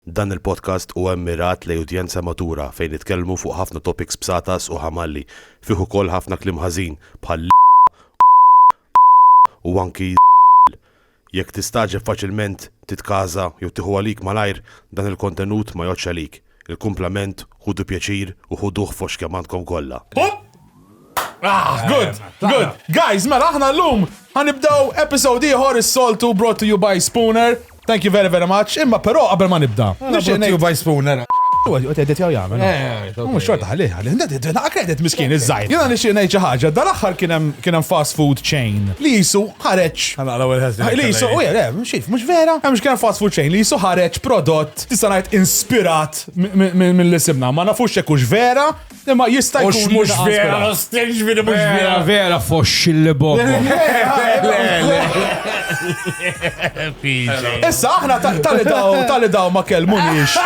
Dan il-podcast huwa mmirat lejn udjenza matura fejn nitkellmu fuq ħafna topics bsatas u ħamalli, fih ukoll ħafna kliem ħażin bħal l, u anki z, jekk tistagħġeb faċilment titkaża jew tieħu għalik malajr dan il-kontenut ma jgħoddx għalik, il-kumplament ħudu pjaċir u ħuduh fost kemm għandkom kollha. Ah, good, eh, good. Guys, mela aħna l-lum ħanibdaw episode ieħor is-soltu brought to you by Spooner. Thank you very, very much. Imma però qabel ma nibda. Ah, brought to you by Spooner. Għet edit jaw jgħamil. Eh, eh, Mux xorta għalli, għalli, għalli, għakredit miskin iż-żajt. Jena nixie nejċa ħagġa, dal-axħar kienem fast food chain li jisu ħareċ. Għana l-għu l-ħazin. Li jisu, u jgħalli, mxif, mux vera. Mux kienem fast food chain li jisu ħareċ prodott, tista najt inspirat mill-isimna, ma nafux jekux vera, Imma jista' jkun. Mhux mhux vera, stinġ minn mhux vera. Vera foxxi li bobo. Issa aħna tali daw, tali daw ma kelmunix.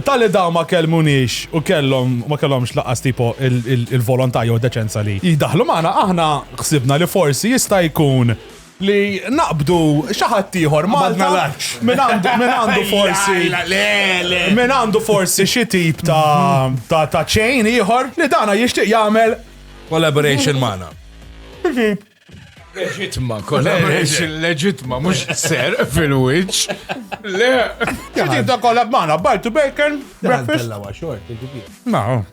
Tali daw ma kelmunix u kellhom ma kellhomx laqas tipo il-volontà jew deċenza li jidaħlu magħna aħna ħsibna li forsi jista' jkun li naqbdu xi ħadd ieħor Malta min għandu forsi min għandu forsi xi tip ta' ta' chain ieħor li dana jixtieq jagħmel collaboration magħna. Leġitma, collaboration leġitma, mhux ser fil-wiċċ. Le. Xi tip ta' collab magħna, Bartu Bacon, breakfast. Ma,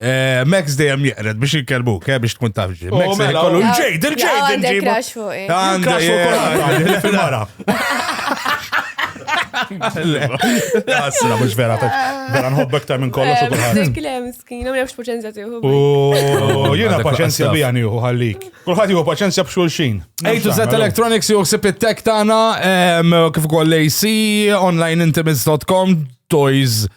Eh, Max dejjem jeqred biex jikkelbu, ke biex tkun taf ġi. Max se jkollu ġejd, il-ġejd. Oh, Għandek crash fuq. Eh. Għandek crash fuq. Mara. Għasra, mux vera, vera nħobbek ta' minn kollox u kullħat. Eh, Klem, skin, għamil għax paċenzja tiħu. U jena paċenzja bija niħu għallik. Kullħat jihu paċenzja bxulxin. Ejtu zet electronics juhu sip it-tek tana, kif ukoll AC, onlineintimates.com, toys.com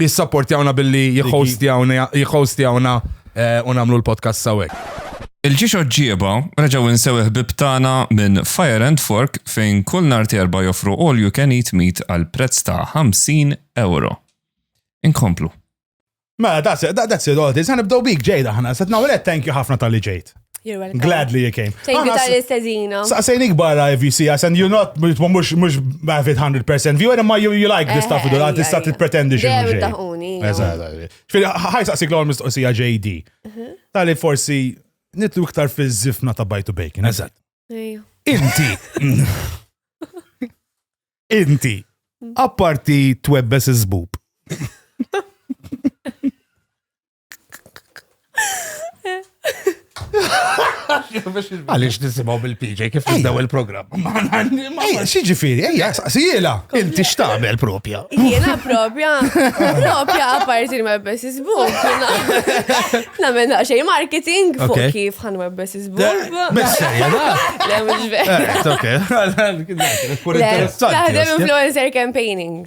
jissapportjawna billi jihostjawna jihostjawna eh, u nagħmlu l-podcast sawek. Il-ġiex oġġieba reġgħu nsew ħbib tagħna minn Fire and Fork fejn kull nhar terba joffru all you can eat meat għal prezz ta' 50 euro. Inkomplu. Mela, that's it, that- that's it, all it is. Għanibdow bik ġejda ħana, set nawret, thank you ħafna tal-li ġejt. You're welcome. Glad li you came. Thank you tal-istezina. Saqsejnik barra IVC, I said you're not, mux, mux have it 100% view, and ma you, you like this stuff, eh, da tista t-pretendi xie. Dejjem taħuni. Fil, ħaj saqsik l-għol mistoqsija JD. Mhm. Tali forsi nitlu iktar fil-zifna ta' bajtu bacon, eżat. Inti. Inti. Apparti twebbes iż-zbub. Għalix nisimaw bil-PJ kif nibdew il-program. Ejja, xieġifiri, ejja, saqsijela. Inti xtamel propja. Jena propja, propja għaparti ma bessis buk. Namen xej marketing fuq kif ħan ma bessis buk. Messa, jena. Le, mux vera. Taħdem influencer campaigning.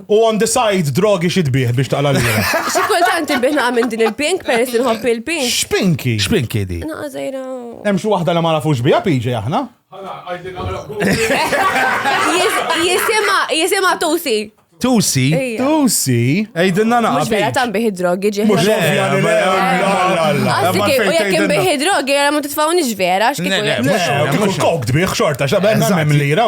U on the side, drogi xi tbih biex taqla l-lira. Xi kultant inbih naqa' minn din il-pink peress li nħobb il-pink. Xpinki. Xpinki di. Naqa' żgħira. Hemm xi waħda li ma nafux biha PJ aħna. Jisimha jisimha Tusi. Tusi. Tusi. Ejdinna naqa. Mhux vera tanbih id-drogi ġieħ. Mhux Qasdik u jekk inbih id-drogi għal ma titfgħunix vera x'kieku. Mhux kok tbih xorta x'għamel lira.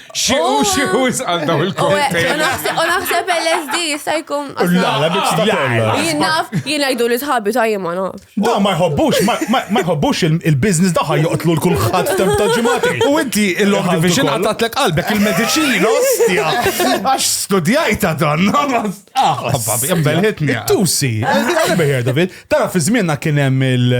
Xi u xi u jisqal daw il-koktejl. U naħseb LSD jista' jkun. La, la, biex ta' kollha. Jien naf, jien għajdu li sħabi ta' jien ma naf. Da ma jħobbux, ma jħobbux il-biznis daħħa joqtlu l-kulħadd temp ta' ġimati. U inti il-long division għatatlek qalbek il-mediċin, ostja. Għax studjajta dan. Ah, babbi, jembelħitni. Tusi, għalbejjer, David. Tara, fi żmienna kien hemm il-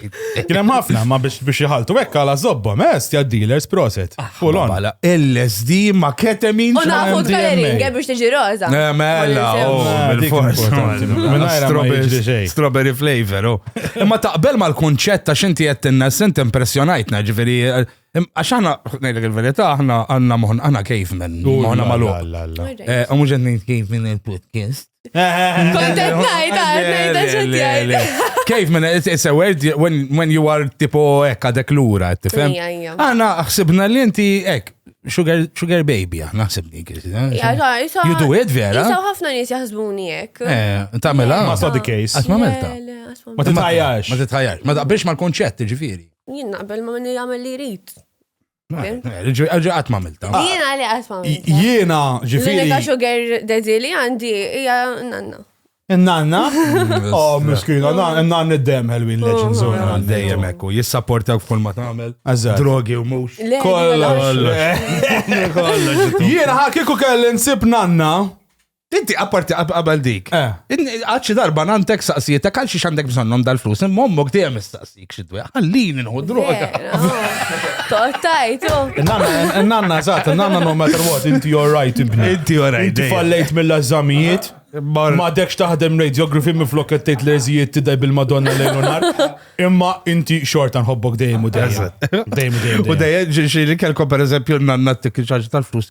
Kien hemm ħafna, ma biex biex jħaltu hekk għala żobba, mest ja dealers proset. Ah, Full on. Bala, LSD ma ketemin. U naħu t-kalering biex tiġi roza. Eh, mela, oh, strawberry flavor. Oh. Imma taqbel mal-kunċett ta' xinti qed tinna sent impressjonajtna, ġifieri Għax aħna, nejlek il-verita, aħna għanna moħna, aħna kif minn, moħna malu. Għamu ġenni kif minn il-podcast. Kontent najt, għajt, għajt, għajt. Kif minna, it's a word when you are tipo ekka dek l-ura, tifem? Għana, xsibna li inti ek, sugar, sugar baby, ah, naħseb dik. You do it, vera? Jisaw ħafna nis jaħsbuni jek. Eh, tamela. Ma sa the case. Għat ma melta. Ma titħajax. Ma titħajax. Ma taqbilx ma l-konċett, ġifiri. Jien naqbel ma minni jgħamil li rrit. Ġiġi għat mamilta. Jiena li għat mamilta. Jiena ġifiri. L-unika sugar daddy li għandi hija nanna. Nanna? Oh, miskina, nanna id-dem ħelwin leġin zona. Oh, Dejjem ekku, jissaportak f'kull ma tagħmel. Drogi u mux. Kollox. Jiena ħakiku kelli nsib nanna. Inti apparti qabel dik. Għad xi darba nantek saqsietek għal xiex għandek bżonnhom dal-flus, imma ommok dejjem istaqsik xi dwejja. Ħallini nħu droga. Toqtajtu. Nanna, eżatt, nanna no matter what, inti you're right ibni. Inti you're right. Inti fallejt mill-eżamijiet. Ma dekx taħdem radiography minn flok qed tgħid leżijiet tidaj bil-Madonna lejn nar. Imma inti xorta nħobbok dejjem u dejjem. Dejjem u dejjem. U dejjem ġieli kelkom pereżempju nanna t-tikkiċaġ tal-flus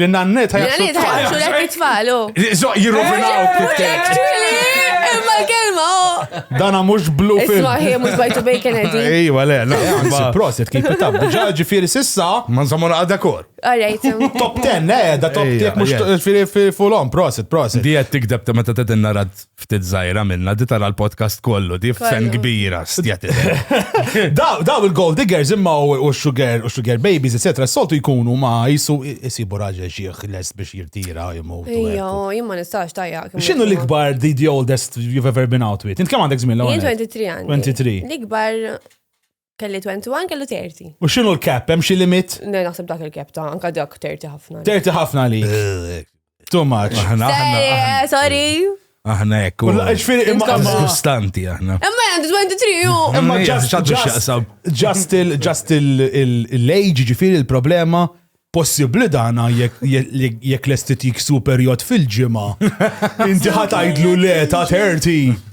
Li nannet ħajħaxu l-tfal. Jirrovinaw Imma kelma Dana mux blu fil. Isma ħie mux bajtu bacon edi. Ejwa le, le. Prosit, kif tab. Ġa ġifiri sissa. Man zamon għadda kor. Alright. Top 10, eh, da top 10 mux fil-fulom. Prosit, prosit. Di għed tikdeb ta' meta t-tinna rad. ftit zaħira minna, di tara l-podcast kollu, di f'sen kbira, stjati. Daw il-gold diggers imma u sugar, u sugar babies, etc. Soltu jkunu ma jisu jisibu raġel xieħ les biex jirtira jimu. Ija, jimma nistax tajja. Xinu l-ikbar di the oldest you've ever been out with? Int kam għandek zmin l-għu? 23 23. L-ikbar Kelli 21, kellu 30. U xinu l-kep, hemm xi limit? Ne, naħseb dak il-kep ta' anka dak 30 ħafna. 30 ħafna li. Eh, Too much. Aħna, aħna. Eh, sorry. Aħna ekk. U ġifieri imma disgustanti aħna. Imma għandi 23 u. Imma just il just il-age ġifieri il-problema possibli dana jekk l-estetik superjot fil-ġimgħa. Inti ħatajdlu le ta' 30.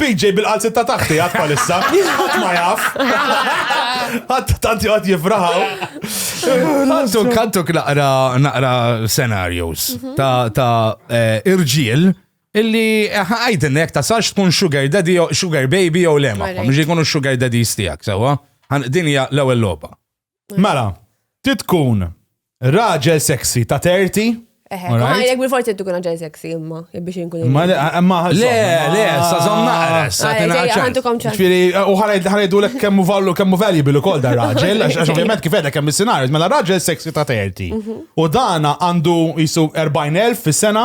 PJ bil-qalzit ta' taħti għat palissa. Għat ma jaf. Għat tanti għat jifraħaw. Għantu kantu naqra naqra scenarios mhm. ta' eh, irġiel illi eh, għajdin jek ta' sax tkun sugar daddy, sugar baby jew lema. Mġi kunu sugar daddy stijak, sewa. Din hija l-ewwel logħba. Mela, ti tkun raġel sexy ta' 30. Eħe, Alright. ma jek bil-forti tkun raġel sexy imma, biex inkun. Ma le, ma Le, le, sa zom naqres, sa Għalek, tina ġej, ċans. għandukom ċans. Ġifieri, u ħarajt ħarajdu lek kemmu vallu kemmu valuable ukoll dar raġel, għax għax ovvjament kif għedek hemm is-scenarios, mela raġel sexy ta' 30. U dana għandu jisu 40,000 fis-sena,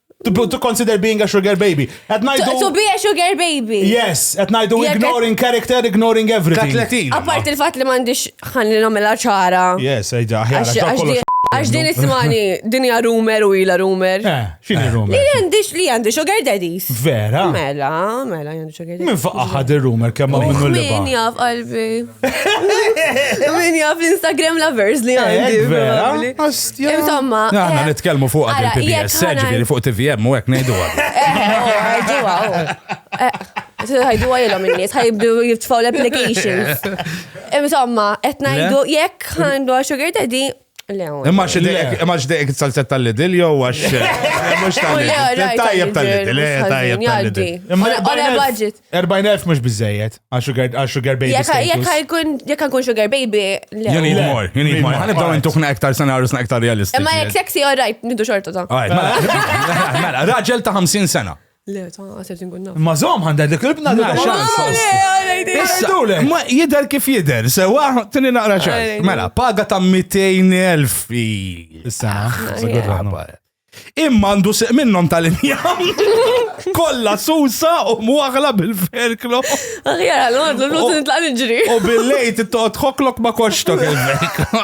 To, to consider being a sugar baby. At night To, to be a sugar baby. Yes, at night Jekk- ignoring character, ignoring Ka everything. 30. Apart il-fat li mandiċ ħalli namela ċara. Yes, eġa, ħjar, Għax- għax għax kollox di- Għax din ismani, din hija rumor u ila rumor. Eh, xini rumor? Li għandix, li għandix sugar daddies. Vera? Mela, mela, Min faqqa ħad il-rumor kemm minnu li Min jaf qalbi. Min jaf l-Instagram lovers li għandi. Vera? Insomma. Għanna eh, nitkellmu fuq għad il-PBS, seġbiri fuq TVM u għek nejdu għad. Għajdu għajlom il-nies, għajdu jibtfaw l-applications. Insomma, etnajdu jekk għandu għaxu għedadi, Imma xdejk salzet tal-lidil jew għax. Mux tal-lidil. Tajjeb tal-lidil, eh, tajjeb tal-lidil. Imma 40.000 mux bizzejiet. Għax sugar baby. Jek għakun sugar baby. You need more, you need more. Għan ibdaw intuħna ektar senarju sna ektar realistiċi. Imma jek sexy, all right, nidu xorta ta' raġel ta' 50 sena. Le, ta' għatet inkun naf. Ma zom għandha dik il-bna li Issa, ma jider kif jider, sewa, tini naqra ċar. Mela, paga ta' 200.000 fi. Issa, ah, Imma għandu seq minnom tal-injam. Kolla susa u muħla bil-ferklo. Aħjar għal għadlu l-luz nitlaq nġri. U bil-lejt it-toqt xoklok ma koċtok il-ferklo.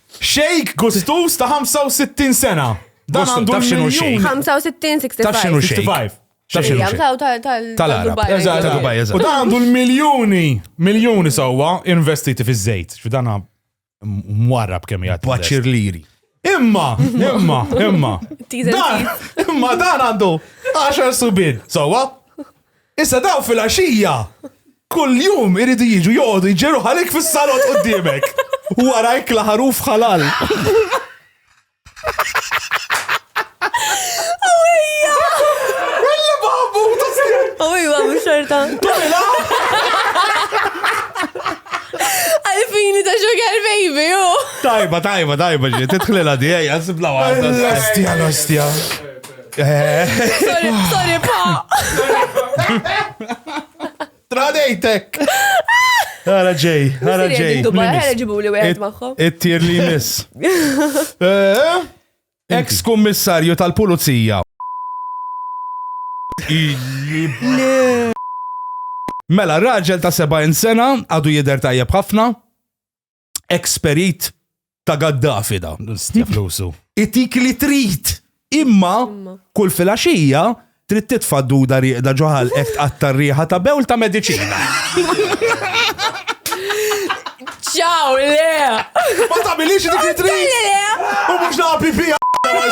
Sheikh gustuż ta' 65 sena. Dan għandu l-miljun. 65, 65. Taf x'inhu sheikh? Taf x'inhu sheikh? Tal-Arab. Eżatt, tal-Dubai, eżatt. U dan għandu l-miljuni, miljuni sewwa investiti fiż-żejt. F'dan mwarrab kemm jgħid. Baċir liri. Imma, imma, imma. Imma dan għandu 10 subin, sewwa? Issa dawn filgħaxija kuljum iridu jiġu joqogħdu jġerru ħalik fis-salon quddiemek. Warajk la ħaruf ħalal. Awija, mux xorta. Tumila! Għalfini ta' sugar baby, ju. Tajba, tajba, tajba, ġi, titħlila di, għazibla għazibla. L-ostja, l-ostja. Sorry, pa! Tradejtek! Għara ġej, għara ġej. ġibu li wieħed magħhom. It-tir li miss. Eh? Ex kummissarju tal-pulizija. Mela, raġel ta' 70 sena għadu jider tajjeb ħafna. ex-perit ta' Gaddafi da. Stja flusu. Itik li trid. Imma kull filgħaxija trid titfa' duda rieqda ġoħal qed tqatta' riħa ta' bewl ta' mediċina. Ciao, le! Ma tagħmilix dik li trid. U mhux nagħpi fiha għal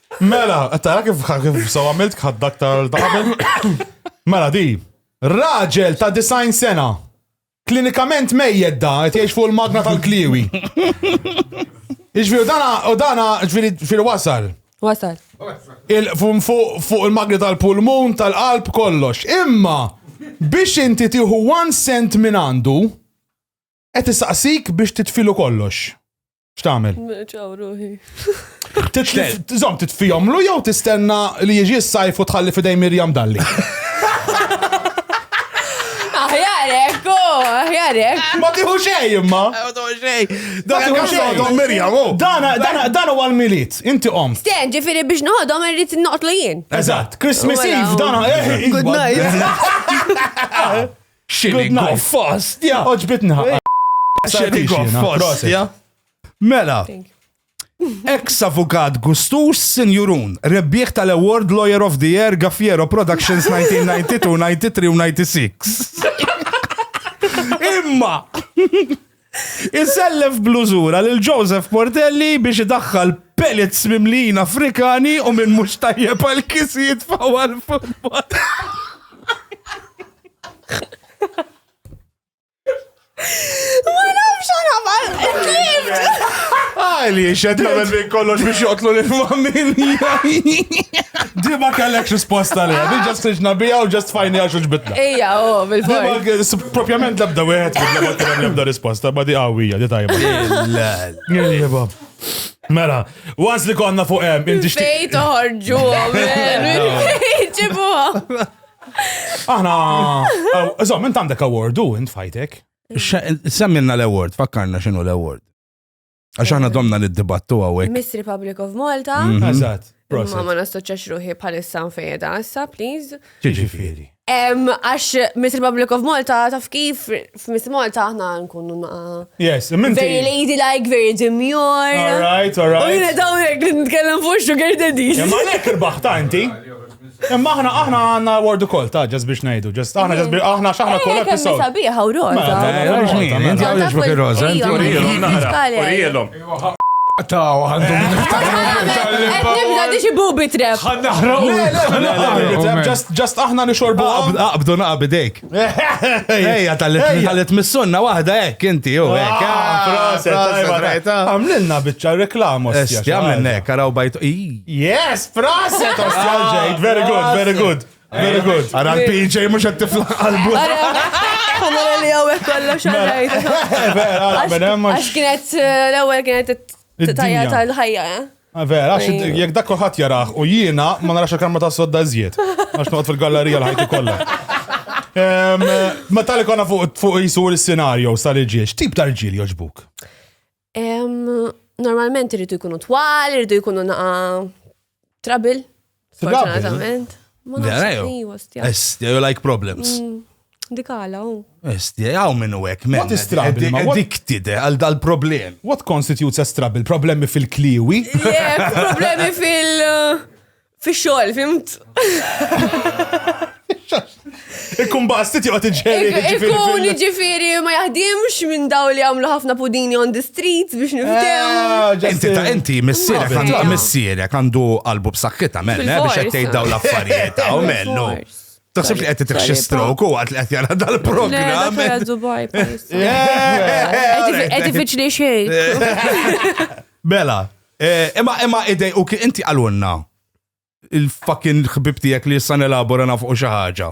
Mela, tara kif kif saw għamilt ħaddak tara ta' qabel. Mela di, raġel ta' design sena. Klinikament mejjed da, qed jgħix fuq il-magna tal-kliwi. Iġviri, u dana, u dana, ġviri, ġviri wasal. Wasal. Il- fu- Fuq fuq il-magni tal-pulmun, tal-qalb, kollox. Imma biex inti tieħu one cent minn għandu, Qed isaqsik biex titfilu kollox. X'tagħmel? Ċaw ruħi. Żomm titfihomlu jew tistenna li jiġi s-sajf u tħalli fidej Mirjam dalli. Aħjar ekku, aħjar ekku. Ma tiħu xej imma. Ma tiħu xej. Dan huwa xogħol Mirjam. Oh. Dan huwa l-miliet, inti qom. Sten, ġifieri biex noħodhom irrid noqtlu jien. Eżatt, Christmas Eve dan. Eh, Good night. Xini goffast, ja. Oġbitni ħaqqa. Xini goffast, ja. Mela. Ex avukat Gustus Sinjurun, rebbieħ tal-Award Lawyer of the Year Gaffiero Productions 1992, 93 u 96. Imma! Isellef blużura lil Joseph Portelli biex idaħħal pellets mimlijin Afrikani u minn mhux tajjeb għal kis jitfaw għal futbol. Ma nafx għal Għali, xed għamil minn kollox biex joqtlu l-familja. Dima kellek risposta li, għadin ġast iġna bija u ġast fajni għaxu ġbit. Ejja, u, oh, bil-fors. Propjament labda wieħed ma kien hemm labda risposta, ma di qawwija, di tajba. Tajba. Mela, once li konna fuq hemm, inti xtieq. Fejn toħorġu, ġibu. Aħna, żomm, int għandek awardu, int fajtek. Semmilna l-award, fakkarna x'inhu l-award. Għax aħna domna li d-dibattu għawek. Miss Republic of Malta. Mhm. Eżatt. Ma ma nastoċax ruħi bħalissa fejda, issa, please. Ġiġifieri. Għax Miss Republic of Malta, taf kif f'Miss Malta aħna nkunu naqa. Yes, minti. Very lady like, very demure. All right, all right. U jina dawnek li nitkellem fuq sugar daddy. Ma nek irbaħ ta' inti. Imma aħna aħna għandna word ukoll ta' ġas biex ngħidu, ġas aħna ġas biex aħna x'aħna kull episod. Sabiħa u roża. Mela, Taw, għandhom Nibda diġi bubi trep. Għanna ħraw. Just aħna nixorbu. Aqbdu naqbidejk. Ejja, tal-li tmissunna wahda hekk inti, u hekk. Għamlilna bieċa reklamu. Għamlilna hekk, għaraw bajtu. Yes, proset, ostja ġejt. Very good, very good. Very good. Għara l-PJ mux għed tifla għalbu. Għamlu li għawek kollu xaġajt. Għax kienet l-ewel kienet tajja tal-ħajja. Ah, vera, jek dak kulħadd jarah u jiena ma narax il-kamra ta' sodda iżjed. Għax noqgħod fil-gallerija l-ħajti kollha. Ma tal konna fuq jisur il-senarju sal-ġiex, tip ta' rġil joġbuk? Normalment irridu jkunu twal, irridu jkunu naqa trabil. Fortunatament. Ma nafx li hostja. Estja, you like problems. Mm, dik għala, u. Estja, għaw minnu għek, men. What is trouble? Ma addicted eh, għal dal-problem. What constitutes a trouble? Problemi fil-kliwi? Yeah, problemi fil- uh, fil-xol, fimt? Ikkun bastit joqgħod iġġeri. Ikkun ġifieri ma jaħdimx minn daw li għamlu ħafna pudini on the streets biex niftew. Ah, inti ta' inti missierek għandu missierek għandu qalbu b'sakkita mel, eh, biex qed tgħid dawn l-affarijiet hawn mellu. Taħseb li qed titrixxi stroke u għad li qed jara dal-programm. Qed ifiċli xejn. Bela, eh, imma imma idej u inti għalunna il-fucking ħbib tiegħek li issa nelabora naf u xi ħaġa.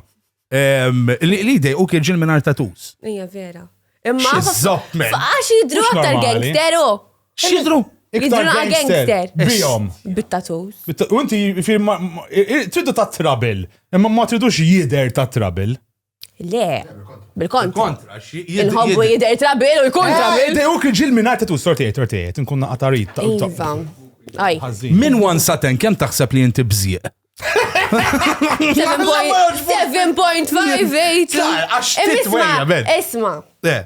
Li dej u kien ġil mingħajr tatus. Ija vera. Imma. Zopp men. Għax jidru aktar gangster u. Xidru? Iktar gangster. Bijom. Bit-tatus. U inti tridu ta' trabil. Imma ma tridux jider ta' trabil. Le, bil-kontra. Kontra, xi- jid- Il-ħobbu jid- jidher trabil u jkun trabil. Ej, uk ġil minn għajta tu sortijiet, sortijiet, nkun naqatarit. Iva. Aj. Min one saten kemm taħseb li inti bżieq? 7.58. Għax titwejja, ben. Isma, Le, isma.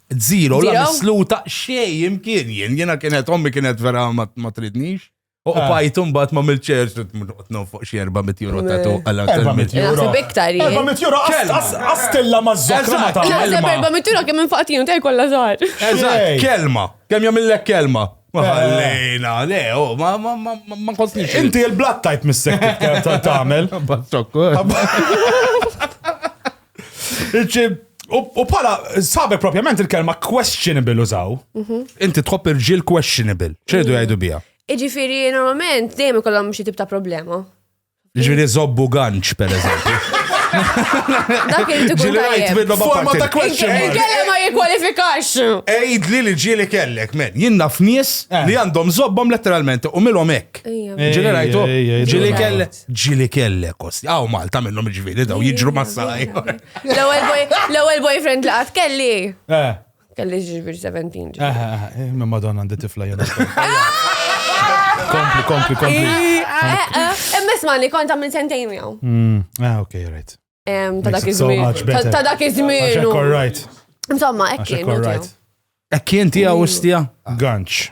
Zero, la Zero? misluta xej imkien jien, jiena kienet ommi kienet vera ma ma tridnix. U Ah. pajtum bat ma mil-ċers, tnum fuq xie 400 euro ta' tu għala 400 euro. Naħseb iktar jien. 400 euro għas- Kelma. għas- għastilla ma' zokra ma Eżatt, ta' kelma. Naħseb kelma. erba' mittura kemm infaqtinu ta' jkollha żgħar. Eżatt, Xej. kelma. Kemm jagħmillek kelma? Ma Eh. ħallejna, le, oh, ma ma ma ma ma kostniex. Inti il-blood type mis-sekk tagħmel. Bazzokku. U bħala, sabe propjament il-kelma questionable użaw. Mhm. Inti tħobb irġil questionable. ċedu jgħidu bija. Iġifiri, normalment, dejjem ikollhom xi tip ta' problema. Ġiri zobbu ganċ, per eżempju. Dak il tkun Ġili rajt minnu ma Forma ta' question mark. Il-kelle ma jikwalifikax. Ejd li li ġili kellek, men. Jien naf nies eh. li għandhom zobbom letteralment u milhom hekk. Ġili rajtu. Ġili kellek. Ġili kellek kosti. Aw Malta minnhom ġifieri daw jiġru mas-saqaj. L-ewwel boyfriend li qatt kelli. Eh. Kelli ġiġbir 17. Eh, eh, eh, ma madonna għandi tifla jena. Kompli, kompli, kompli. Emmes ma li kont għamil sentejn jaw. Mm, ah, ok, right. Ta' dak iż-żmien. Ta' dak iż-żmien. Insomma, hekk kien. Hekk kien tiegħu istja? Ganċ.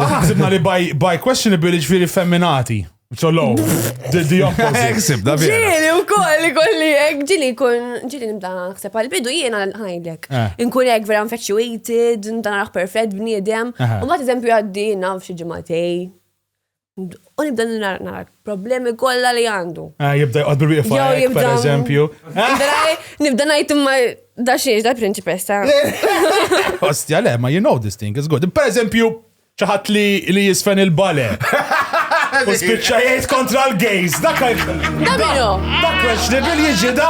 Aħna ħsibna li by questionable ġifieri femminati. So low, the, the opposite. Eksib, da bie. Ġili u koll, kolli, ġili kun, ġili nibda naħseb għal-bidu jiena ħajdlek. Eh. Nkun ek vera infatuated, narax perfett bniedem. U ma t-eżempju għaddi, naf xie ġematej. U nibda nara nara problemi kollha li għandu. Ah, jibda jqod bil-wieqfa Jew hekk, jibda- per eżempju. Nibda ngħid imma da xiex da prinċipessa. Ostja, le, ma you know this thing is good. Per eżempju, ċaħat li li jisfen il-bale. U spiċċa jgħid kontra l-gays. Dak Da minnu? Dak questionable jiġi da.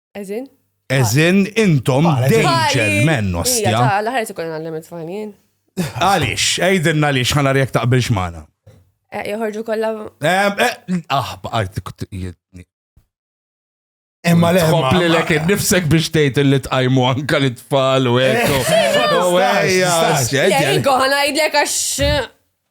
As in? As in, intom dejċel men, ostja. Ija, ta' l-ħarġ ikun għallem it-tfalin. Għalix, għajdinna għalix, ħana rjek taqbilx maħna. Eh, joħorġu kolla. Eh, eh, ah, baqart Imma le. Tħoppli l kien nifsek biex tgħid li tqajmu anka li tfal u ekku. Ejja, ejja. Ejja, ejja. Ejja, ejja. Ejja, ejja.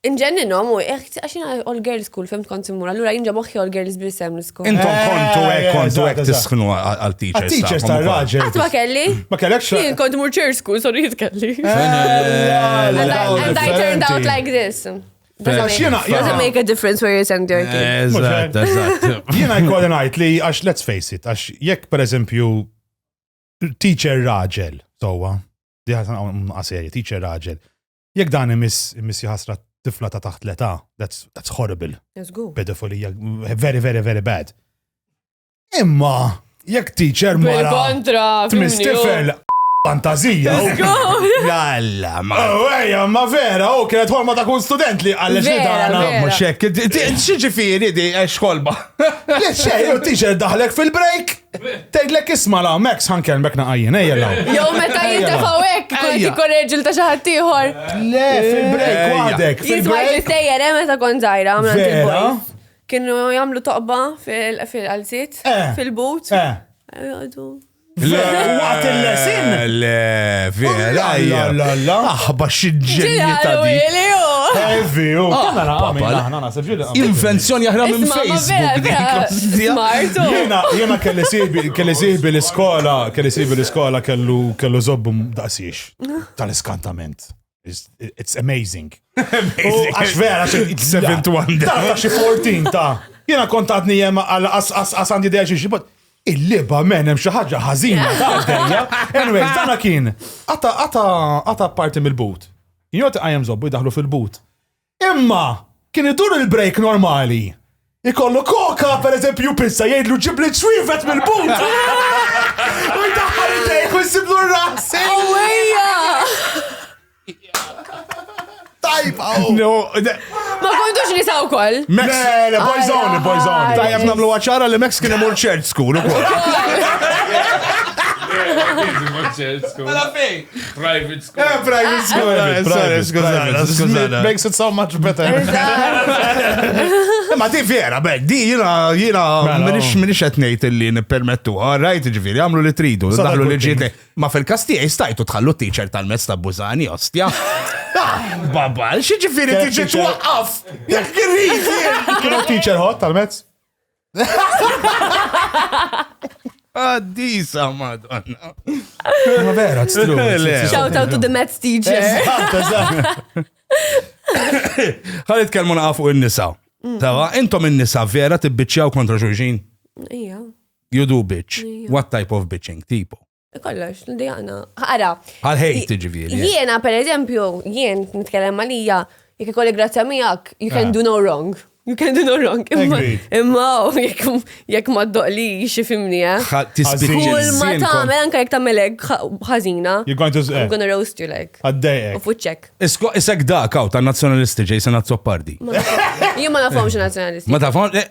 Inġenninhom u għidt għax jiena all girls school fhimt kont immur allura jien ġo moħħi all girls biss hemm l-iskol. Intom kontu hekk kontu hekk tisħnu għal teachers. Teachers ta' raġel. Qatt ma kelli. Ma kellekx. Jien kont mur church school so jrid kelli. And I turned out like this. Doesn't make a difference where you send your kid. Eżatt, eżatt. Jiena jkolli ngħid li għax let's face it, għax jekk pereżempju teacher raġel, towa, diħat għaseri, teacher raġel, Jekk dan imiss imiss jħasra tifla ta' taħt l-età, that's, that's horrible. Pedofilija, very, very, very bad. Imma, jekk teacher ma. Kontra. Tmiss tifel fantazija. Jalla, ma. Oh, Ejja, ma vera, u oh, kienet ħolma ta' kull student li għallex li dana. Muxek, xieġifiri di, xkolba. Le xej, u teacher daħlek fil-break. Tgħidlek isma' la, Max ħankellmek naqajjen, ejja la. Jew meta jintafaw hekk, kont ikun reġil ta' xi ħadd ieħor. Le, fil-break waħdek. Jiswa' jistejjer, eh, meta kont żgħira, għamla Kienu jagħmlu toqba fil-qalziet, eh. fil-but. Eh. Waqt il-lesin? Le, vera. Aħba xidġenji ta' di. Evi, u. Kamera, għamil, Invenzjoni aħra minn Facebook. Jena kelli sibi, kelli sibi l-iskola, kelli sibi l-iskola kellu kellu zobbu daqsiex tal-iskantament. It's amazing. Għax vera, seven to one. Ta' xi 14 ta' jena kontatni jema għal għasandi deċi xie, but il-liba men hemm xi ħaġa ħażina ta' dejja. Anyway, dana kien għata parti mill-boot. Jgħati għajem zobbu jdaħlu fil-boot. Imma kien idur il-break normali. Ikollu koka, per eżempju, pizza, jgħidlu ġibli ċwivet mill-but. U jdaħħal id-dejk u jsiblu r-rasi. Ewwejja! Tajba! No, de- Ma kontux nisa wkoll. Max. Le, le, boyzone, boyzone. Tajjeb namlu għacħara li Max kien imur ċert school u kol. Mela fej. Private school. Eh, private school. Private, private, skużana, skużana. Makes it so much better. Ma di vera, bek, di jina, jina, mela, minix, oh. minix etnejt li nipermettu, rajt ġviri, għamlu li tridu, daħlu li ġiet. Ma fil-kasti jistajtu tħallu t-teacher tal-mezz ta' bużani, ostja. Babba, xieġifiri t-teacher twaqqaf, jek kirrizi. Kienu t-teacher hot tal-mezz? Għaddisa, madonna. Ma vera, it's true. Shout out to the Mets teacher. Għalit kelmu naqafu il-nisa. Mm. Tawa, intom il-nisa vera tibbiċċaw kontra xulxin? Ija. You do bitch. What type of bitching? Tipo. Kollox, l-djana. Ara. Għal-ħejt, ġiviri. Eh. Jiena, per eżempju, jien nitkellem għalija, jek ikolli grazzja miegħek, you can ah. do no wrong. You can do no wrong. Imma jekk ma doqli xifimni, eh. Kull ma tagħmel anke jekk tagħmelek ħażina. You're going to I'm gonna roast you like. Għaddejek. U fuċċek. Isek da kaw ta' nazzjonalisti ġej se nazzopardi. Jien ma nafhomx nazzjonalisti. Ma tafhom eh,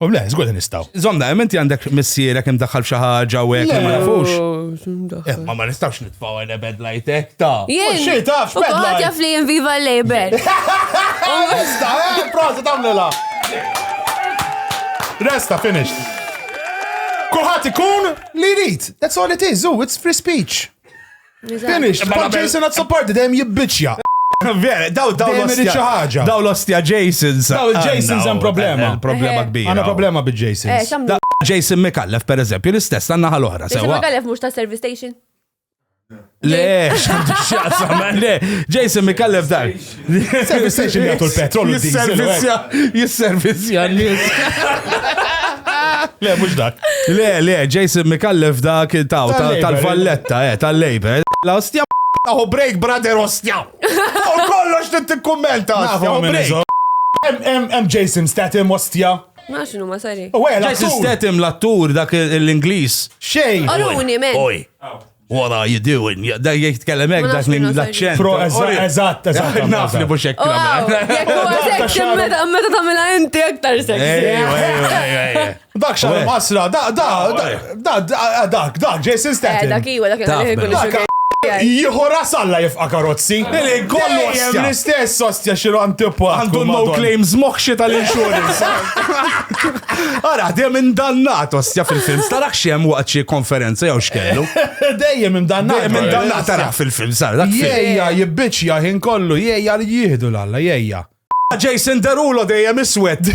U le, zgur li nistaw. Zomda, menti għandek missierek imdaħħal f'xi ħaġa u hekk ma nafux. Eh, ma ma nistawx nitfaw għana bed lajtek ta. Jien. Xi tafx bed lajtek. Għad jaf li jien viva l-label. Resta, eh, prosa tamlila. Resta, finish. Kulħat ikun li jrid. That's all it is, it's free speech. Finish, ma Jason għad sopparti dejjem jibbiċja. Vera, daw daw Dejjem irid xi ħaġa. Daw l-ostja Jasons. Daw il-Jasons hemm problema. Hemm problema Eh. kbira. Għandna problema Eh, bil-Jasons. xamlu. Da- Jason Mikallef, per eżempju, l-istess għanna ħal oħra, Jason sewa. Magalef mux ta' service station. Le, xamdu xaqsam, le. Jason Mikallef dan. Service station jgħatu l-petrol. Jisservizja, jisservizja l-nis. Le, mux dak. Le, le, Jason Mikallef dak taw tal-valletta, eh, tal-labor. La ostja Aħu break, brother, ostja. U kollox t-tikkummenta. Aħu break. Em Jason Statham, ostja. Ma xinu ma sari. U għela, Jason Statham, l-attur, dak l-Inglis. Xej. Oruni, men. Oj. Wara you doing? Da jitkellem hekk dak minn l-aċċent. Pro, eżatt, eżatt. Naf li mhux hekk. Meta tagħmilha inti aktar sexy. Dak xar masra, da, da, da, da, da, Jason Statham. Dak iwa, dak iwa. Jihora salla jifqa karozzi. Li kollu għastja. L-istess għastja xilu antipa. Għandu no claims moħxie tal-insurance. Ara, dejjem indannat, osja fil-film. Starax xem waqt xi konferenza jew xkellu. Dejjem indannat. Dejjem indannat tarax fil-film, sar. Jejja, jibbiċja ħin kollu, jejja li jihdu l-alla, jejja. Jason Derulo dejjem iswed.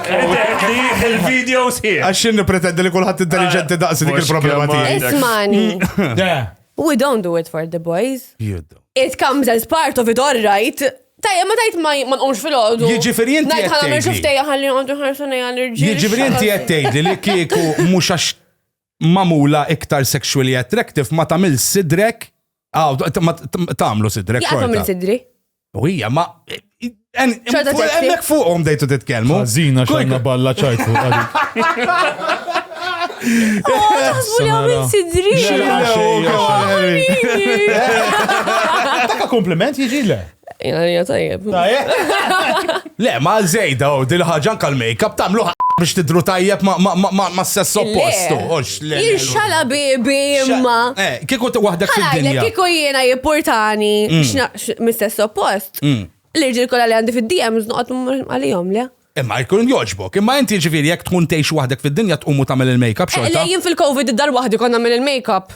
Il-video sħiħ. Għax xinni pretendi li kullħat intelligenti ah, daqsi dik il-problema tiegħi. Ismani. We don't do it for the boys. You do. It comes as part of it, all right. Tajja, ma tajt ma nqomx fil-ħodu. Jiġifieri inti qed tgħidli. Ngħid ħana ħarsu nejja l-irġiel. Jiġifieri inti qed tgħidli li kieku mhux għax magħmula iktar sexually attractive ma tagħmel sidrek ah, tagħmlu sidrek. Jaqgħu tagħmel sidri. U hija ma Hemmhekk fuqhom dejtu titkellmu. Ħażina xorna balla ċajtu. Taka kompliment jiġi le. Jgħalija tajjeb. Le, ma zejda u dil ħagġan kal make-up tamlu biex tidru tajjeb ma s-sess oppostu. Ixxala bibi imma. Eh, kiku wahdek fil-dinja. Kiku jiena jippurtani mm. mis-sess oppost. Mm. L-irġil kolla li għandi fil-DMs noqot għalijom, le? Imma jkun joġbok, imma inti ġifiri jek tkun teħx wahdek fil-dinja tqumu tamil il-make-up eh, xorta. Le, jien fil-Covid id-dar wahdi konna il-make-up.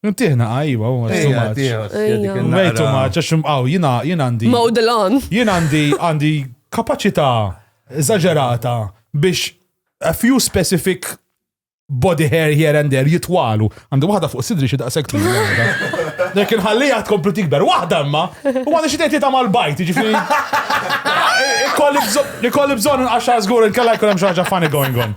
Ntiħna għajwa, u għax tumaċ. Għajtu tumaċ, għax għaw, jina għandi. Mawdilan. Jina għandi għandi kapacita eżagġerata biex a few specific body hair here and there jitwalu. Għandu waħda fuq sidri xi daqshekk tu. Nek inħallija tkomplu tikber waħda imma u għandha xi tgħid mal-bajt, ġifieri. Ikolli bżonn inqaxxa żgur inkella jkun hemm xi ħaġa funny going on.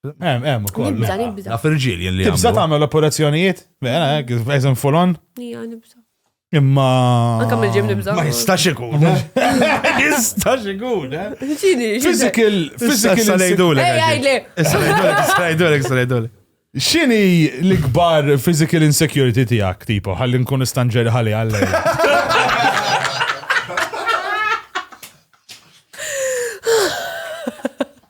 Hemm, hemm ukoll. Nibża, nibża. Naf irġiel jien li. Tibża tagħmel operazzjonijiet? Mela, hekk, eżem full on? Ija, nibża. Imma. Anka mill-ġim nibża. Ma jistax ikun. Jistax ikun, eh? Ġini, Physical, physical. Salajdulek. Ej, għajli. Salajdulek, salajdulek, salajdulek. Xini l-ikbar physical insecurity tijak, tipo, għallin nkun istanġeri għalli għalli.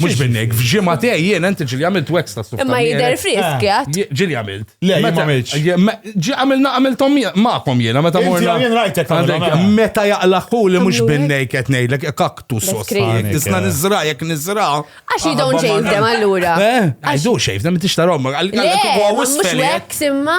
Mux minnek, f'ġimma tiegħi jien inti ġili għamilt wax ta' sufta. Imma jider frisk, jgħat. Eh, ġili għamilt. Le, ma għamilx. Ġi għamilna għamiltom maqom jena, meta morna. Jien rajtek Meta jaqlaħu li mux binnek qed ngħidlek kaktus sostan. Tisna nizra, jek nizra. Għax you don't shave them allura. Eh, I do shave them, tixtarom. Le, mux wax imma.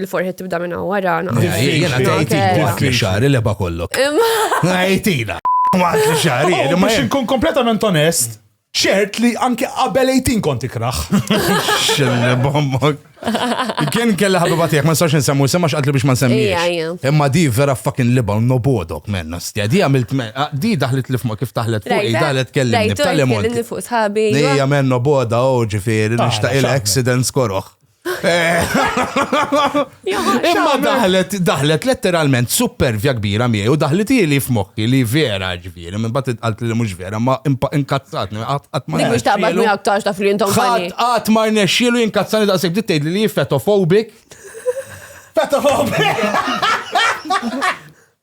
Il-forħet tibda minna wara. Jena tajtik waqt li xari leba kollok. Għajtina. Waqt li xari. Oh, biex nkun kompletament onest, ċert li anke qabel 18 kont ikraħ. Xille bombok. Kien kella ħabba tiegħek ma nistax nsemmu semma x'qatli biex ma nsemmix. Imma di vera fucking libel no bodok men nastja. Di għamilt di daħlet li f'ma kif taħlet fuq daħlet kellimni b'tal-lemon. Hija men no boda u oh, ġifieri nixtaq il-accidents koroħ. Imma daħlet, daħlet letteralment supervja kbira miegħi u daħlet li f'moħħi li vera ġifieri, minn bat għalt li mhux vera, ma inkazzat, qatt ma. Mhux taqbad minn aktarx ta' fri intom. Ħadd qatt ma rnexxielu jinkazzani daqshekk dit tgħid li fetofobik. Fetofobik!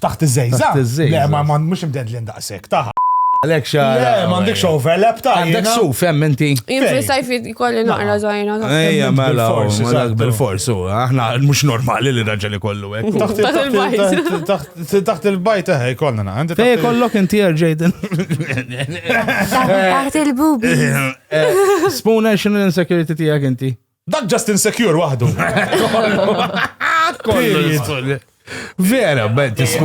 Taħt iż-żejza? Taħt iż-żejza. Le, ma mhux imdedlin daqshekk, taħ. Għalek xa. Le, m'għandekx overlap ta' Għandek su, fem inti. Jien fil-sajf jkolli naqra zaħina. Ejja, mela, mela bil-fors, u aħna mhux normali li raġel ikollu hekk. Taħt il-bajt. Taħt il-bajt eħe jkollna naqra. Ejja, kollok inti Jaden. Taħt il-bubi. Spuna xinu l-insecurity tiegħek inti. Dak just insecure waħdu. Period. Vera, bel tisku.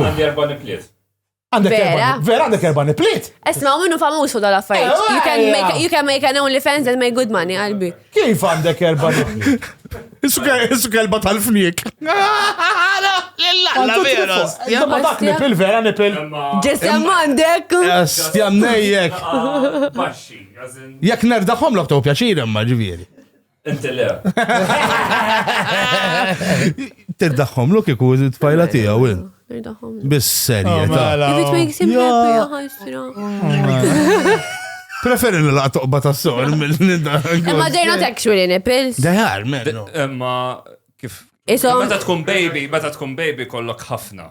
Għandek erba. Vera għandek erba niplit. Esma, minnu famuż fuq dal-affarijiet. Eh, you can make you can make an only fans and make good money, qalbi. Kif għandek erba niplit? Issu kelba tal-fnik. La vera. Ma dak nipil vera nipil. Ġesem għandek. Stjam nejjek. Jek nerdaħom l-oktob pjaċir imma ġivieri. Inti le. Tiddaħħom lu kiku t-tfajla tiegħu il. Bis serje ta'. Oh, If it makes him happy, ħajsra. Preferi li la toqba ta' s-sor mill-nida. Imma they're not actually nipples. They are, men. Imma kif. Meta tkun baby, meta tkun baby kollok ħafna.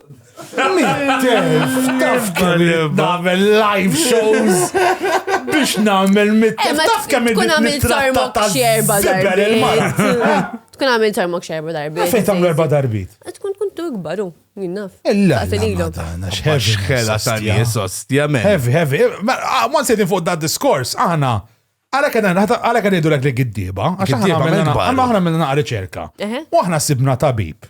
Taf kemm nagħmel live shows biex nagħmel mit-tef. Eh, taf kemm għamilt tarmok xerba darbit. Tkun għamilt tarmok xerba darbit. Fejn tagħmlu erba' darbit? Eh, tkun tkun tu ikbaru, jinnaf. Illa. Xħela ta' nies ostja men. Heavy, heavy. Ma ah, sejtin fuq da' diskors, aħna. Għala kena, għala kena jidu l-għek li giddiba, għax aħna għamilna naqra riċerka. U aħna sibna tabib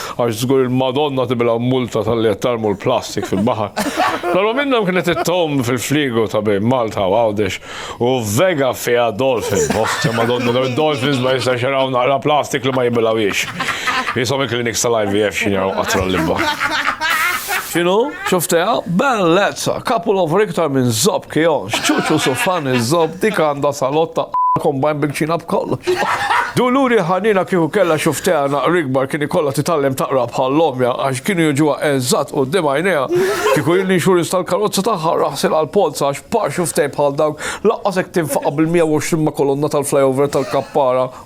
Għax żgur il-Madonna tibila multa talli qed tarmu l-plastik fil-baħar. Però minnhom kienet it-tom fil-frigo ta' bejn Malta u Għawdex u vega fiha dolphin. Oħt oh, Madonna daw id-dolphins ma jistax jaraw naqra plastik li ma jibilawiex. Jisom il-kliniks tal-IVF xinjaw qatra l-libba. Xinu? Xufteha? Bellezza! Couple over iktar minn zopp kion, xċuċu sufan iż-zopp, dik għandha salotta kombajn bil-kċina b'kollox. Duluri ħanina kieku kellha xufteha naqra ikbar kien ikollha titgħallem taqra bħal ommja għax kienu jiġuha eżatt quddiem għajnejha. Kieku jien l-insurance tal-karozza tagħha raħsil għall-polza għax par xuftej bħal dawk laqqas hekk tinfaqa' bil-120 ma' kolonna tal-flyover tal-kappara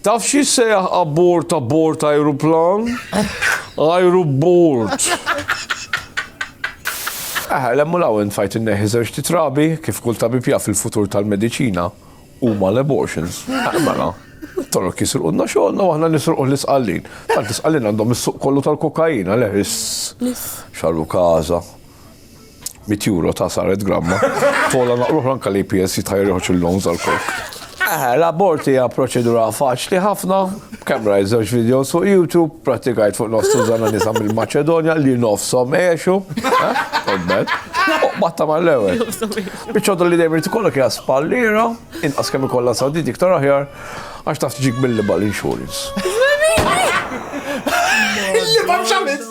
Taf x'jissejjaħ abbord ta' bord ajruplan? Ajrubbord. Eħe, 'l hemm u 'l hawn tfajt inneħħi żewġt itrabi, kif kull tabib jaf il-futur tal-mediċina huma l-abortions. Eħe mela. It-Torok jisrqulna xogħolna u aħna nisrquh l-Isqallin. Tant l-Isqallin għandhom is-suq kollu tal-kokaina, le, iss. Xarru każa. Mit euro ta' saret gramma. Tola naqruħ anka li PS jitħajr joħroġ il-loans għal kok. Eh, l-abort hija proċedura faċli ħafna, kemm rajt żewġ videos fuq YouTube, pratikajt fuq nos tużana nisa mill-Maċedonja li nofsom għexu, għodbet, eh, batta ma l-ewel. Bicċodu li dejjem tikollok hija spallira, inqas kemm ikollha sawdit iktar aħjar, għax taf tiġik mill-libal insurance. Libal xamis!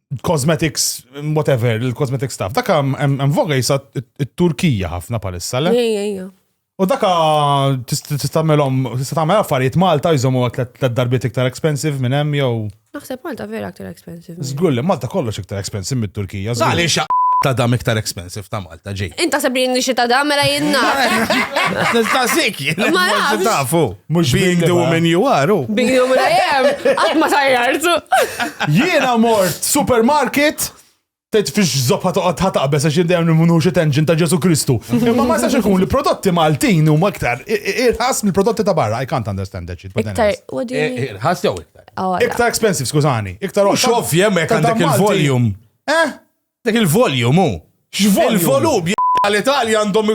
cosmetics, whatever, il-cosmetic stuff. Daka hemm voga jisa t-Turkija ħafna palissa, le? U daka tistamelhom, tista' tagħmel affarijiet Malta jżommu tliet darbiet iktar expensive minn hemm jew. Naħseb Malta vera iktar expensive. Żgur li Malta kollox iktar expensive mit-Turkija. Għaliex ta' dam iktar expensive ta' Malta. ta' ġej. Inta sebrin li xita da mela jenna. Nistaqsik, ma nafx. Tafu, mux being the woman you are. Oh. Being the woman I am, għat ma tajjartu. Jiena mort supermarket, Tejt fiex zoppa toqgħod ħataqbes għax jindejjem nimmunuħux it-engine ta' Ġesu Kristu. Imma ma sax ikun li prodotti Maltin huma iktar irħas mill-prodotti ta' barra. I can't understand that shit. Iktar, what do you mean? Irħas jew iktar? Oh, iktar expensive, skużani. Iktar Xovja mek għandek il-volume. Eh? Dak il-volume hu. X'volume? Il-volum l-Italja għandhom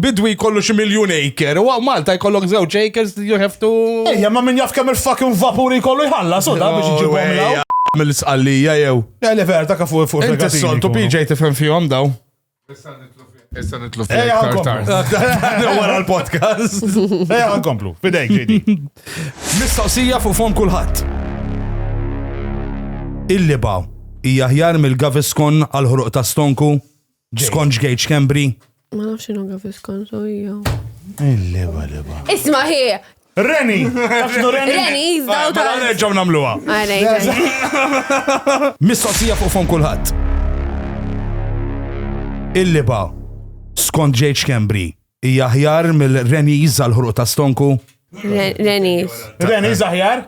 bidwi jkollu xi miljun acre, u Malta jkollok żewġ acres you have to. Ejja, ma min jaf kemm il-fucking vapuri jkollu jħallas u da biex iġibhom law. Mill-isqallija jew. Le, le, vera, dak fuq fuq. Inti s-soltu PJ tifhem fihom daw. Issa nitlu fil Wara l-podcast. Ejja għankomplu, fidejk ġidi. Mistoqsija fuq fom kulħadd. Il-liba hija ħjar mill-Gaviscon għal ħruq ta' stonku, Sconge Gage Cambry. Ma nafx xinu Gaviscon, so hija. Il-liba, liba. Isma' hi, Reni! Afnu Reni! Reni, jizdaw ta' Għal reġaw namluwa. Mistoqsija fuq fon kulħadd. Il-liba, skont J. Kembri, hija ħjar mill-Reni jizza l-ħruq ta' stonku? Reni. Reni zaħjar?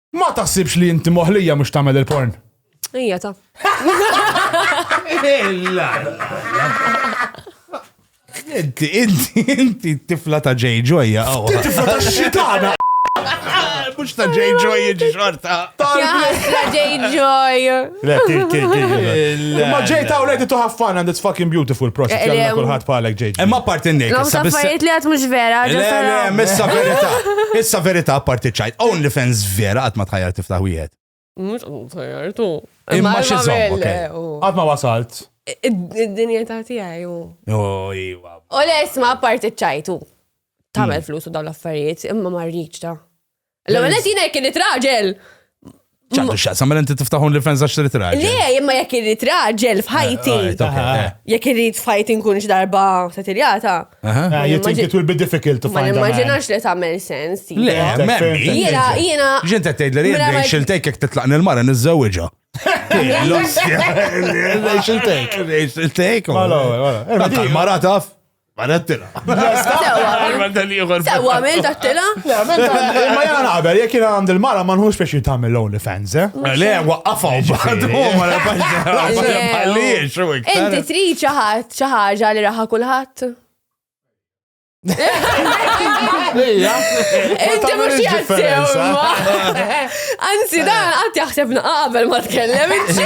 Ma taħsibx li inti moħlija mhux tagħmel il-porn. Ija ta. Inti, inti, inti tifla ta' J. Joy, għaw. Tifla ta' xitana. Mux ta' J. Joy, xorta. Ta' J. Joy. Le, kien, kien, kien. Imma ġej ta' u lejti tuħaf fan and it's fucking beautiful proċess. Eh, Jalla eh, kulħadd bħalek ġej. Imma parti n-nejk. Law ta' fajiet li għat mux vera. Le, le, missa verita. Issa verita parti ċajt. Only fans vera għat ma tħajjar tiftaħ wieħed. Mux għat tħajjar tu. Imma xizom. Għat ma wasalt. Id-dinja ta' tijaj u. Oh, iwa. U le, isma parti ċajtu. Tamel hmm. flus u daw l-affarijiet, imma marriċ ta' L-ewwel qed jiena jekk irid raġel. ċandu xaqsam, mela inti tiftaħu li fenza xtrit raġel. Le, imma jekk irid raġel f'ħajti. Eh, eh, eh. Jekk irid f'ħajti nkun x'darba satiljata. Ah, you think it will be difficult to find. Ma nimmaġinax li tagħmel sens. Le, jiena jiena. Ġinta tgħid li jien xiltejk jekk titlaq nil-mara niżżewġha. L-ossja. Xiltejk. Xiltejk. Mara taf. Mara t-tila. Sewa, għamil ta' t-tila? Ma jena naqbel, jek jena għand il-mara ma nħux biex jitamil l-only fans, eh? eh le, waqqafaw, bħadu, ma nafajġ. Inti tri ċaħat, ċaħġa li raħa kullħat? Inti mux jassew, Anzi, dan għat jaħseb naqabel ma t-kellem, inti.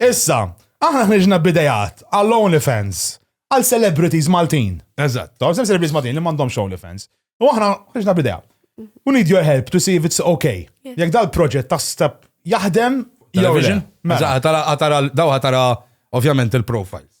Issa, aħna ħriġna b'idejat għal OnlyFans għal celebrities Maltin. Eżatt. Taw, sem celebrities Maltin li m'għandhomx OnlyFans. U aħna ħriġna b'idea. We need your help to see if it's okay. Jekk dal-proġett ta' step jaħdem, jew vision. Mela. Tara, tara, daw tara ovvjament il-profiles.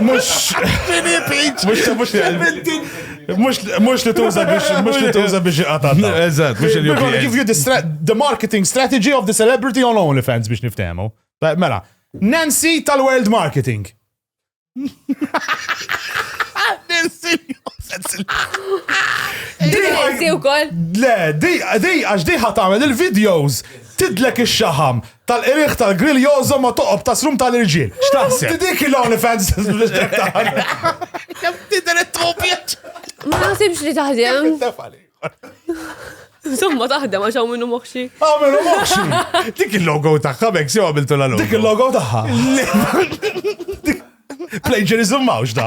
Mux. Mux li tuża biex, mux li tuża biex iqata. Eżat, mux li tuża. Give you the marketing strategy of the celebrity on OnlyFans biex niftemu. Mela, Nancy tal-World Marketing. Nancy. Nancy u koll. Le, di, għax di ħatamel il-videos tidlek ix-xaħam. Tal-qirigħ tal-grill jogħżom ma' toqob ta' srum tal-irġiel. X'taħseb? Inti dik il-OnlyFans Ma naħsibx li taħdem. Insomma taħdem għax hawn minnu moħxi. Hawn minnu moħxi. Dik il-logo tagħha mek sew għamiltu la logo. Dik il-logo tagħha. Plagiarism mawx da.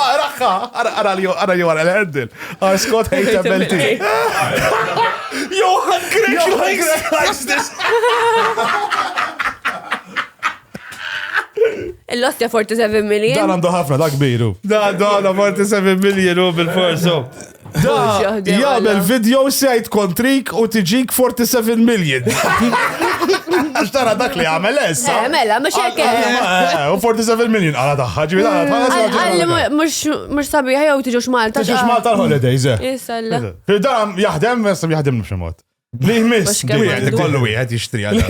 Araħħa, ara li ara li wara l-erdil. Our Scott hate MLT. Johan Grech likes this. Il-loss ta' 47 million. Dan għandu ħafna, da' kbiru. Da, da, da, 47 million u bil-forsu. Jagħmel video sejt kontrik u tiġik 47 million. Għax tara dak li għamel essa. Eh, mela, mux hekk. Ah, eh. eh, u 47 million għala taħħa ġivi għala taħħa. Mux sabiħa jew tiġux Malta. Tiġux Malta l-holidays. Isalla. Fil-dam jaħdem, jaħdem nux mod. Li jmiss, wieħed ikollu wieħed jixtri għal.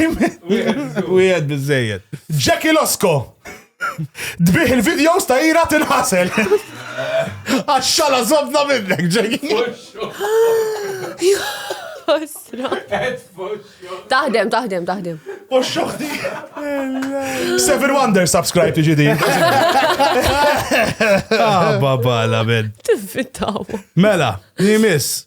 Wieħed biżejjed. Jackie Losko! Dbiħ il-videos ta' ira tinħasel. Għaxxala zobna minnek, Jackie. Ostra. Taħdem, taħdem, taħdem. U xoħti. Seven Wonder subscribe to GD. Ah, baba, la ben. Tiffittaw. Mela, nimis.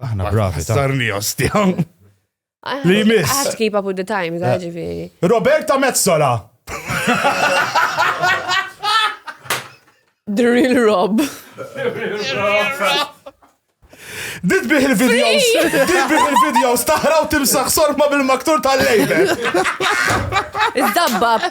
Aħna bravi. Sarni ostjaw. Li miss. Għat keep up with the times, eh. ġifiri. Roberta Mezzola. The real Rob. The real Rob. Dit bih il-videos, dit bih il-videos, taħraw timsaħ sorma bil-maktur tal-lejbe. Iżdabbab.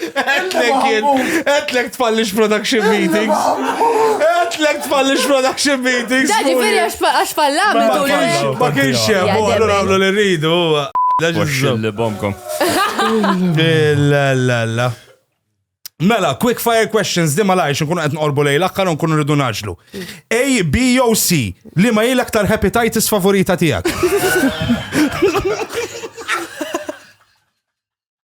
Għetlek tfallix production meetings. Għetlek tfallix production meetings. Daġi veri għax fallam tul Ma kienx hemm, u allura għamlu li rridu. Li bomkom. La Mela, quick fire questions di ma lajx nkunu qed nqorbu lejl aktar nkunu rridu naġlu. A, B jew C li ma jilek tal hepatitis favorita tiegħek.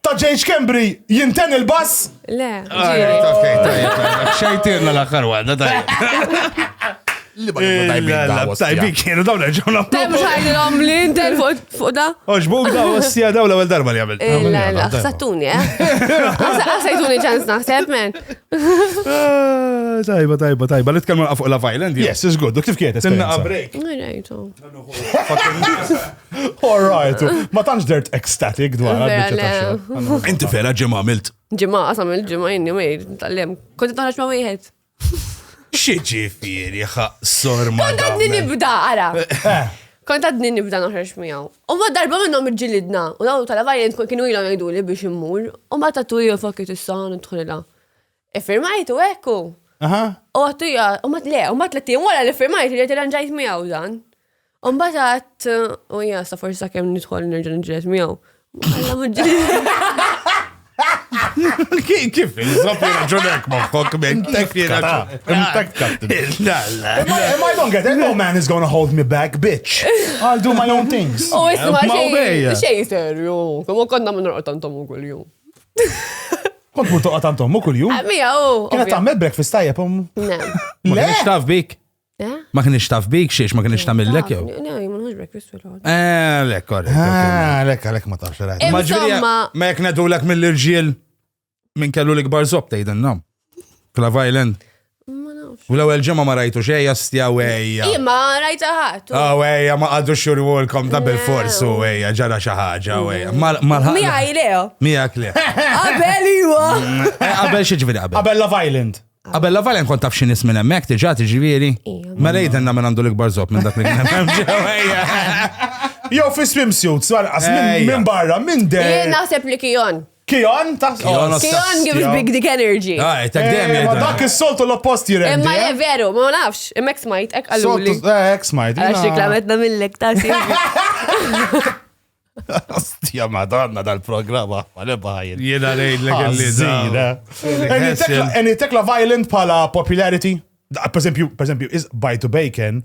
Ta' Jay Schembri jinten il-bass? Le, ġiri. Xejtirna l-axar għadda tajja. Li ma kienu tajbin da. Tajbin kienu dawn nerġaw naqblu. Tajb xajlom li intel fuq da. Oġbuk da ossija daw l-ewel darba li għamil. La, la, xsattuni, eh? Xsajtuni ċans naħseb, men. Tajba, tajba, tajba. Li tkellmu fuq la violent. Yes, is good. Kif kienet? Sinna break. All right, ma tantx dert ecstatic dwar għal-bicċa ta' xogħol. Inti fela ġimgħa għamilt. Ġimgħa qasam il-ġimgħa jinni mejr, tal-lem. Kont taħraġ ma' wieħed. Xi ġifieri ħaqsor ma. Kont għadni nibda, ara. Eh. Kont għadni nibda noħroġ miegħu. U ma darba minnhom irġilidna, u dawn tal-avarjent kienu ilhom jgħiduli biex immur, u ma tatu jofokit is-san u tħulilha. Iffirmajtu hekk u. Aha. U għattu ja, u mat le, u mat tlettin wara li firmajt li tirranġajt miegħu dan. U mbagħad għadd, u ja, sa forsi sakemm nidħol nerġa' nġilet miegħu. Alla mġilet. Kif il-zop raġunek maħħok minn kif Am I don't get it? No man is gonna hold me back, bitch. I'll do my own things. U isma xej serju, kому konna minn raqtantom u kull-jum. Kont mur toqgħod għand ommu kuljum. Eh, Mija u. Kienet tagħmel breakfast tajjeb ommu. Ne. Ma Le! kienx taf bik. Eh? Ma kienx taf bik xiex ma kienx tagħmillek jew. Ne, jimulħux breakfast u l-għod. Eh, le, korrekt. ok. Ah, lek, lek ma tafx rajt. Eh, Ma ġviri, Insomma- ma jek nedulek mill-irġiel minn kellu l-ikbar zob tgħidilna. Klav Island. U l-ewwel ġimgħa ma rajtu xejja stjaw ejja. Imma rajta ħadd. Oh ejja ma qadu xurwulkom ta' bil-fors u ejja ġara xi ħaġa u ejja. Mija Leo. Mija Leo. Qabel iwa. Eh, qabel xi ġifieri qabel. Qabel Love Island. Qabel Love Island kont taf xi nies minn hemmhekk tiġà tiġifieri. Ma rejden minn għandu l-ikbar żob minn dak li kien hemm ġewwa. Jew fi swimsuits, għalqas minn barra, minn der. Jien naħseb li kijon. Kion ta' Kion of Kion give us big dick energy. Ah, ta' gdem eh, Ma dak is-soltu l-oppost jirendi. Imma eh? veru, ma nafx, imma ek smajt, ek għalluli. Soltu, eh, ek smajt. Għax reklametna mill-lek ta' Ostja madonna dal-programma, għale bħajn. Jena rejn l għalli. Any tekla violent pala popularity? Per esempio, is Bite to Bacon,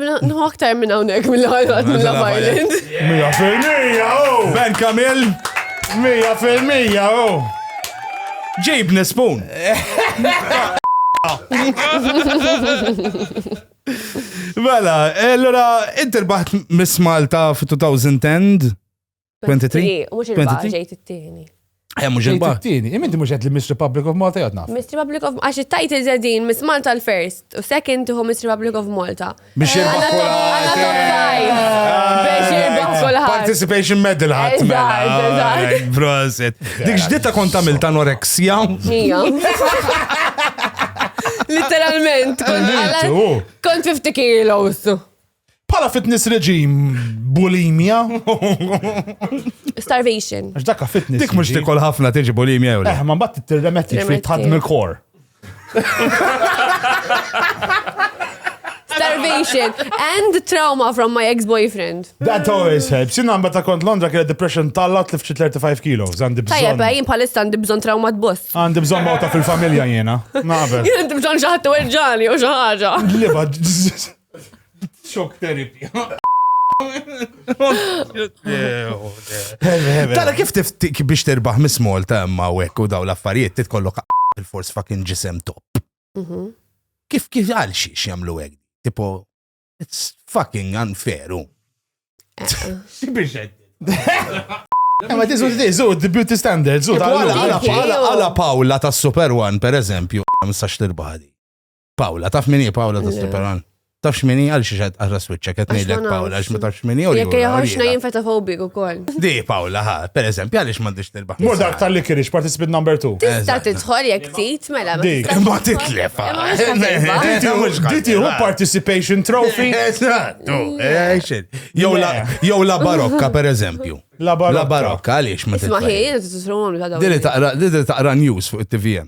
Nħu aktar minn hawnhekk mill-ħajwat mill-Island. Mija fil-mija, oh! Ben Kamil! Mija fil-mija, oh! Ġib nispun! Mela, allora, inti rbaħt Miss Malta f-2010 23? Mux il-baqa ġejt it-tieni. Eh, mux il-baqa. It-tieni, iminti mux għed l-Miss Republic of Malta jgħatna. Miss Republic of Malta, għax it-tajt il-zedin, Miss Malta l-first, u second tuħu Miss Republic of Malta. Biex jirbaħ kulħadd. Participation medal ħadd mela. Prosit. Dik ġdita kont għamil ta' anoreksja. Literalment, kont 50 kilos. Pala fitness reġim, bulimia. Starvation. Għax dakka fitness. Dik mux tikol ħafna tiġi bulimia jew. Eh, ma bat t-tirremetti fi tħadm il-kor. Starvation and trauma from my ex-boyfriend. That always helps. Jina għamba ta' kont Londra kena depression tallat li fċi 35 kilo. Għandi bżon. Tajja, bajin palissa għandi bżon trauma t-boss. Għandi bżon mawta fil-familja jena. Nabe. Jena għandi bżon xaħtu erġani u xaħġa. Liba, Xok terapija. Tara kif tiftik biex terbaħ mis Malta imma wek u daw l-affarijiet titkollok il-fors fucking ġisem top. Mhm. Kif kif għal xiex jamlu għek? Tipo, it's fucking unfair. Xibiex Ma tizu tizu, the beauty standards. Għala Paula ta' Super One, per eżempju, mistax tirbaħdi. Pawla, taf min hi Pawla ta' Streperan? Taf x'min hi għal xi xed għarra switcha qed ngħidlek Pawla għax ma tafx min hi u Jekk jaħarxna jien feta fobik ukoll. Di Pawla ha, pereżempju għaliex m'għandix tirbaħ. Mur dak tal-li kienx participant number 2. Tista' tidħol jekk tit mela. Dik ma titlef. Diti hu participation trophy. Eżattu. Jew la barokka pereżempju. La barokka għaliex ma titlef. Isma' ħin titru għamlu ta' dawn. Dili taqra news fuq it-TVM.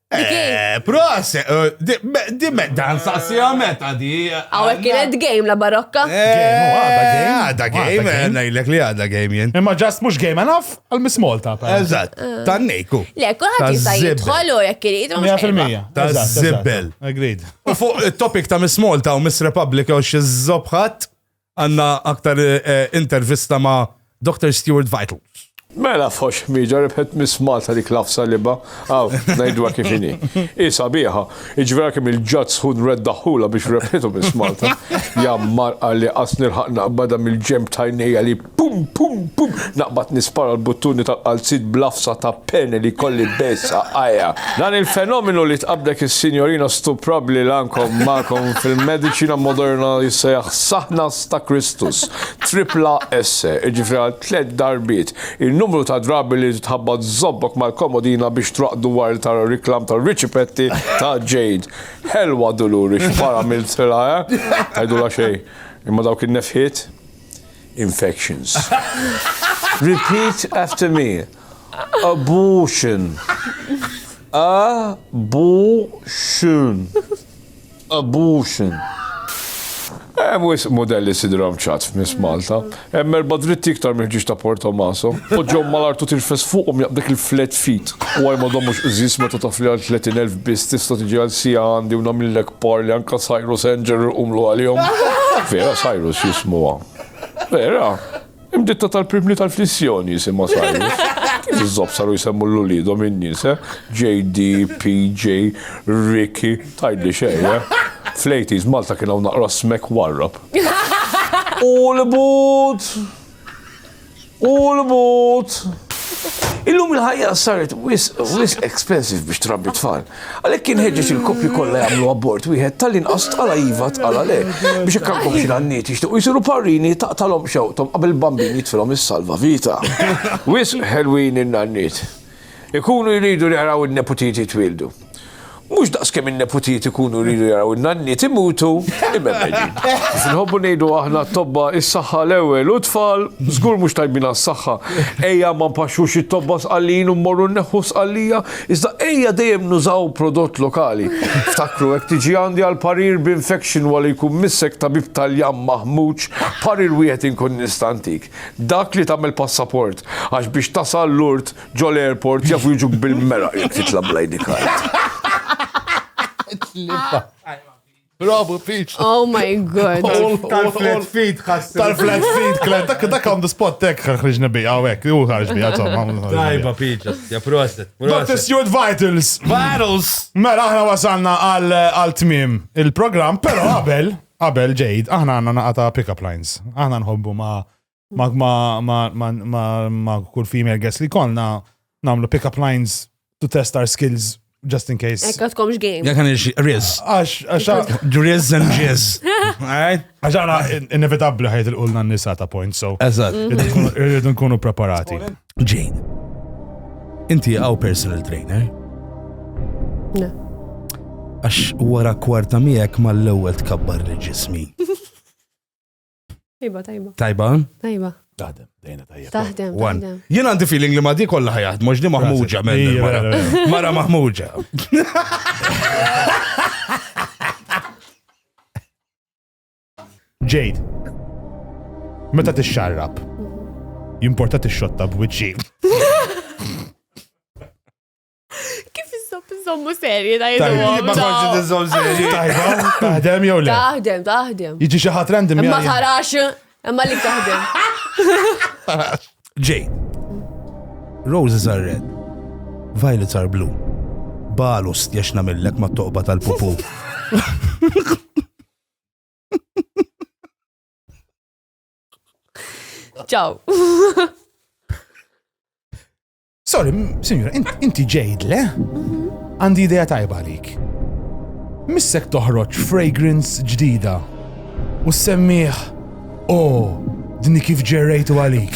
Eh, Pros, dimme eh, dan sassija meta di. Għawek eh, kienet game la barokka. Għada game, najlek li għada game jen. Imma ġast mux game enough għal-Miss Malta. Eżat, tan nejku. Le, kullħat jista jitħol u jek kirid. 100%. Ta' zibbel. Agreed. U fuq il-topic ta' Miss Malta u Miss Republic u xie zobħat. Għandna aktar intervista ma' Doctor Stuart Vitals. Mela f'ħox ħmieġa rebħet Miss Malta dik l-għafsa libha, aw, ngħidulha kif inhi. Hi sabiħa, jiġifieri għalkemm il-Ġaġġ Sħun reddaħħulha biex rebħitu Miss Malta. Jammar qalli qas nilħaq naqbadha mill-ġenb ta' għajnejja li pum pum pum! Naqbad nispara l-buttuni tal-qalziet bl-għafsa ta' peni li jkolli bejn saqajja. Dan il-fenomenu li tqabdek is-Sinjorina Stuprabbli li għandkom magħkom fil-mediċina moderna jissejjaħ Saħnas ta' Kristus, Tripla Esse, jiġifieri għal tliet darbiet, in-numru ta' drabi li titħabbat żobbok mal-komodina biex traqdu wara li tara riklam tar-riċipetti ta' Jade. Ħelwa Duluri, x'mara għamiltilha, eh? Tgħidulha xejn. Imma dawk in-nefħiet! infections. Repeat after me. Abortion. Abortion. Abortion. Hemm wisq modelli sidrom ċat f'Miss Malta. Hemm erba' dritti iktar mill-ġiex ta' Port Tommaso. Poġġhom mal-artu tirfes fuqhom jaqbdek il-flat feet. U għajmodhom mhux qżiż meta taf li għal 30,000 biss tista' tiġi għal siegħa għandi u nagħmillek Por li anka Cyrus Angel umlu għalihom. Vera Cyrus jismuha. Vera, imditta tal-primni tal-flissjoni jisimha Cyrus. Iżob saru jisemmu l-ulidhom in-nies, eh? JD, PJ, Ricky, tajdi xejn, eh? Flejtis Malta kien hawn naqra smek warrab. U l-but! U l-mut! Illum il-ħajja saret wis expensive biex trabbi tfal. Għalhekk kien ħeġġeġ il-koppji kollha jagħmlu abort wieħed tal-inqas tqala iva tqala le biex hekk għandkom xi għanniet jixtiequ jsiru parrini taqtalhom xewqthom qabel bambin jitfilhom is-salva vita. Wisq ħelwin in-nanniet. Ikunu jridu jaraw in-neputiet jitwieldu. Mhux daqs kemm in-neputiet ikunu jridu jaraw in-nanniet imutu imemedin. Kif inħobbu ngħidu aħna t-tobba is-saħħa l-ewwel u t-tfal żgur mhux tajbin għas-saħħa. Ejja ma npaxxux it-tobba sqallin u mmorru nneħħu s-sqallija, iżda ejja dejjem nużaw prodott lokali. Ftakru jekk tiġi għandi għal parir b'infection wara li jkun missek tabib Taljan maħmuġ, parir wieħed inkun nista' ntik. Dak li tagħmel passaport, għax biex tasal Lourdes ġo l-airport jafu jiġuk bil-meraq jekk titla' bl-ID card. Bravo, Peach. Oh my god. Tal-flat feed ħassi. Tal-flat feed, klen. Dak dak għandu spot tek ħriġna bi għawek. Ju ħarġ bi għatom. Dajba, Peach. Ja, proset. Dr. Stuart Vitals. Vitals. Mela, aħna wasalna għal-tmim il-program, pero għabel. Qabel ġejt, aħna għandna naqa ta' pick-up lines. Aħna nħobbu ma' ma' kull female guest li konna namlu pick-up lines to test our skills just in case. Ekka tkomx game. Jek għan riz. Għax, għax, riz and jizz. Għax għana inevitabli ħajt il-qulna n-nisa ta' point, so. Eżat. Irridu nkunu preparati. Jane, inti għaw personal trainer? Le. Għax wara kwarta miegħek mal-ewwel tkabbar li ġismi. Tajba, tajba. Tajba? Tajba. Taħdem, dejna tajja. Taħdem. One. Jien għandi feeling li ma di kollha ħajat, mhux di maħmuġa minn mara. Mara maħmuġa. Jade, meta tixxarrab, jimporta tixxotta b'wiċċi. Kif iżob iżommu serji ta' jiżomu? Ma konċi tiżom serji. Tajba, taħdem jew le? Taħdem, taħdem. Jiġi xi ħadd random. Ma tarax, imma li taħdem. Jade, roses are red, violets are blue. Balu stjax namillek ma toqba tal-pupu. Ciao. Sorry, signora, inti ġejd, le? Għandi idea tajba għalik. Missek toħroġ fragrance ġdida u semmiħ, oh, dini kif ġerrejtu għalik.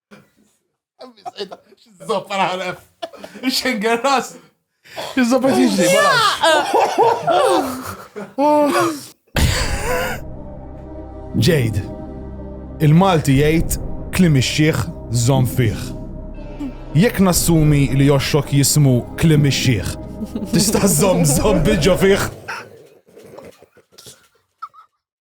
Zoppa naħlef. Xenger ras. Zoppa tiġri, Jade, il-Malti jgħid klim ix-xieħ żomm fih. Jekk nassumi li joxxok jismu klim ix-xieħ, tista' żomm żomm biġo fih.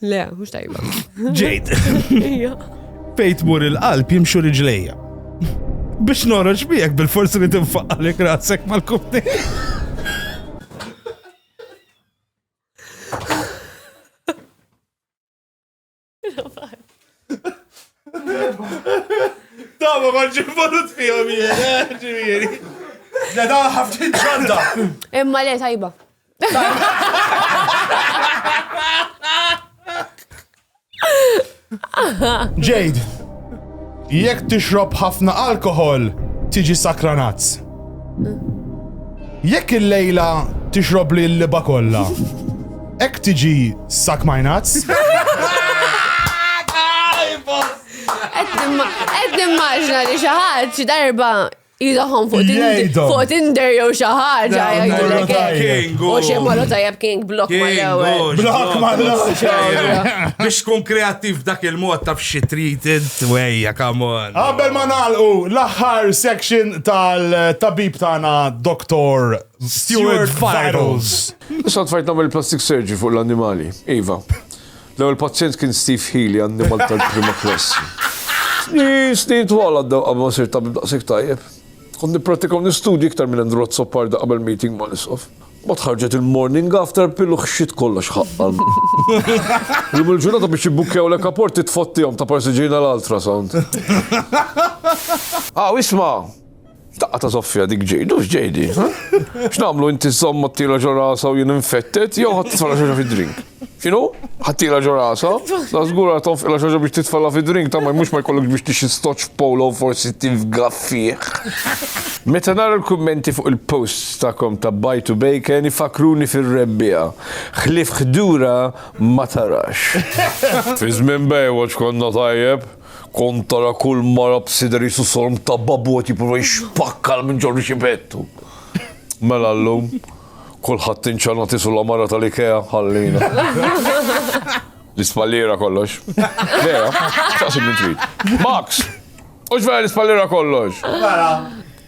Le, mhux tajba. Ġejt. Fejn tmur il-qalb jimxu riġlejja. Biex noroġ miegħek bil-forsi li tinfaqalek rasek mal-kufni. Tama maġġi volut fihom jien, eh, ġifieri. Da da ħafna ġanda. Imma le tajba. Jade, jekk tixrob ħafna alkohol, tiġi sakranazz. Jekk il-lejla tixrob li l-liba kollha, ek tiġi sak majnazz. Qed nimmaġna li xi ħadd xi darba Ilaħom fuq Tinder, Jgħidhom. fuq Tinder jew xi ħaġa Dawn jgħidulek marru hekk. tajjeb. U xi marru tajjeb King Block ma l-ewwel. Blok ma l-ewwel. Biex tkun kreattiv dak il-mod taf xi trid int wejja, come on. Qabel ma nagħlqu l-aħħar section tal-tabib tagħna Dr. Stuart Vitals. Sodfajtna mill-plastic surgery fuq l-annimali, iva. L-ewwel pazjent kien Steve Healy, annimal tal-prima klassi. Snin, snin twal għaddew qabel ma sirt tabib daqshekk tajjeb. Kont nipprattika u nistudji iktar minn Andrew Azzoparda qabel meeting ma' l-isqof. Ma tħarġet il-morning after pill u xxit kollox ħaqqal. Jum il-ġurnata biex jibbukkjaw lek apporti tfottihom ta' parsi ġejna l-ultrasound. Aw isma'! Daqqa ta' soffja dik ġejdu, u x'ġejdi? X'nagħmlu inti żżomm ħaddila ġo rasha u jien infettet jew ħadd titfala xi fid-drink? X'inhu? Ħaddila ġo rasha? La żgur ara tonfqilha xi biex titfala fid-drink ta' mhux ma jkollokx biex tixi stoċ f'polo u forsi tifga fih. Meta nara l-kummenti fuq il-posts tagħkom ta' Buy to Bacon ifakruni fir-rebbiegħa. Ħlief ħdura ma tarax. Fi żmien Baywatch konna tajjeb. Kont tara kull mara b'sider qisu sorm ta' babu qed jipprova jixpakkal minn ġorru xi pettu. Mela llum, kulħadd inċana tisu la mara tal-Ikea, ħallina. L-ispalliera kollox. Vera, staqsi min trid. Max! Hux vera l-ispalliera kollox? Vera.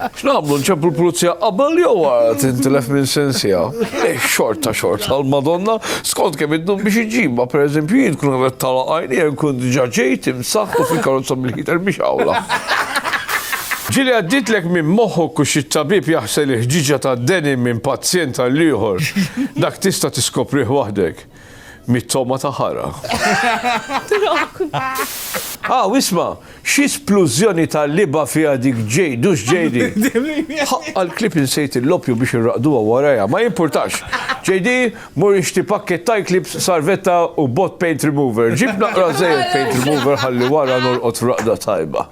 X'nagħmlu nċemplu l-pulizija qabel jew wara tintilef minn sensija? Eh, xorta xorta għall-Madonna, skont kemm iddum biex iġibha, pereżempju jien kun qed tala għajni hemm kun diġà ġejt imsaħħ u fil-karozza bil-ħiter biex awla. Ġili għadditlek minn moħħok u xi tabib jaħsel il-ħġiġa tad-denim minn pazjent għall-ieħor. Dak tista' tiskoprih waħdek. Mit-togħma ta' ħara. Ah, u isma', xi splużjoni ta' libgħa fiha dik Jade, hux JD. Ħaqqa l-klip insejt il-loppju biex irraqduha warajha, ma jimpurtax. JD, mur ixtri pakkett ta' Eclipse, sarvetta u bot paint remover. Ġib naqra żejjed paint remover ħalli wara norqod f'raqda tajba.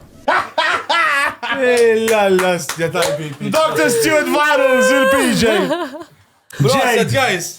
Illa l-ostja tal-PJ. Dr. Stuart Varels, il-PJ. Proset, guys!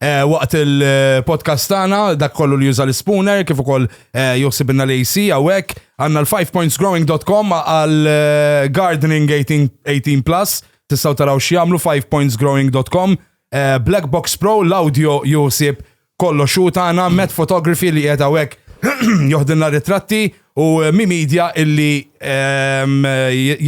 Eh, waqt il-podcast tagħna dak kollu li juża l-spooner kif ukoll eh, joħsibna l-AC hawnhekk għandna l-5pointsgrowing.com għal eh, gardening 18 plus tistgħu taraw x'jagħmlu 5pointsgrowing.com Black Box Pro l-audio juħsib kollu xu tagħna Met Photography li qiegħed hawnhekk joħdilna ritratti u Mi Media illi ehm,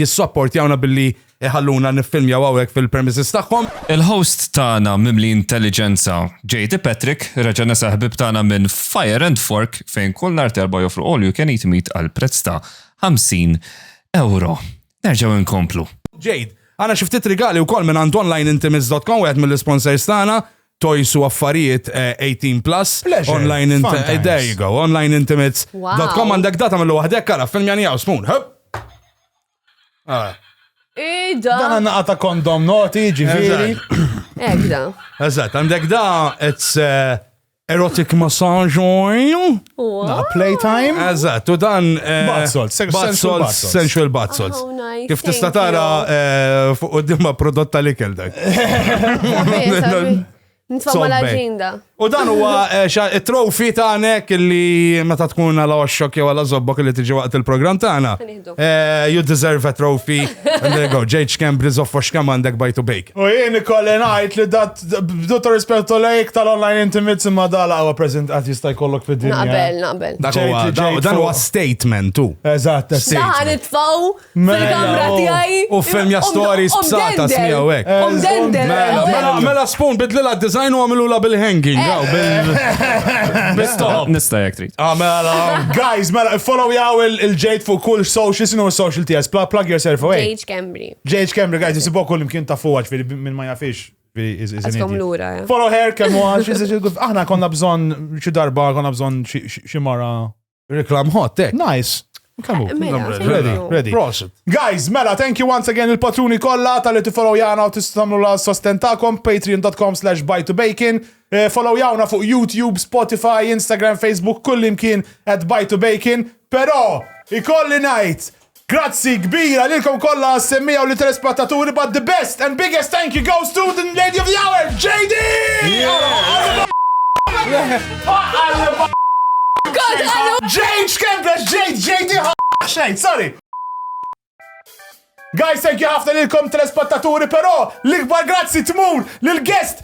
jissopportjawna billi Iħalluna niffilmjaw hawnhekk fil-premises tagħhom. Il-host tagħna mimli intelliġenza, JD Patrick, reġa' nesa' ħbieb tagħna minn Fire and Fork fejn kull nhar t'Erbgħa joffru all you can eat meat għal prezz ta' €50. Nerġgħu inkomplu. Jade, għandna xi ftit rigali wkoll mingħand onlineintimates.com wieħed mill-isponsors tagħna, toys u affarijiet 18 plus. Pleasure, fun times. There you go, onlineintimates.com għandek data millu waħdek ara filmjani hawn spoon. Ah. Ida. Dan għanna għata kondom noti, ġiviri. Ekda. Eżat, għandek da, it's uh, erotic massage oil. Na, playtime. Eżat, u dan. Eh, bath salt, sensual bath salt. Sensual bath oh, salt. Kif tista tara eh, fuq u dimma prodotta li kel dak. Nitfaw mal ġinda. U dan huwa eh, it-trofi tagħnek li meta tkun għal oxxok jew għal żobbok li tiġi waqt il-programm tagħna. Eh, you deserve a trophy. And there you go. Ġejġ kemm briżof fox kemm għandek bajt u bejk. U jien ikolli ngħid li dat bdu ta' rispettu lejk tal-online intimit imma dala huwa present qatt jista' jkollok fid-dinja. Naqbel, naqbel. Dan huwa statement tu. Eżatt, statement. Dan itfaw Fil-kamra tiegħi. U film ja stories b'satas miegħu hekk. Omdendel. Mela, mela, mela spoon bidlilha d-design u għamilula bil-hanging. għaw, bil- Bil-stop. Nista' jekk trid. Ah, mela, guys, mela, follow jaw il-ġejt fuq kull social, sinu social tiegħek, Pla- plug yourself away. Age Cambry. JH Camry, guys, jisibu kull imkien ta' fuq, ġviri, minn ma jafix. ġviri, is- is an Għaskom idiot. lura, eh. Follow her, kemm huwa, she's a- she's a good- aħna konna bżon xi darba, konna bżon xi- xi xi mara Reklam hot, tek. Nice. Kamu, eh, mela, ready, ready. Prosit. Guys, mela, thank you once again il-patruni kolla tal-li tifollow jana u tistamlu la sostentakom, patreon.com slash buy to bacon. Eh, follow jawna fuq YouTube, Spotify, Instagram, Facebook, kullimkien at buy to bacon. Pero, ikolli najt Grazzi kbira lilkom kollha għas-semmiegħa u lit-telespattaturi but the best and biggest thank you goes to the lady of the hour, JD! Jade x'kembrex Jade, JD xejn, sorry! Guys, thank you ħafna lilkom telespattaturi, però l-ikbar grazzi tmur lill-guest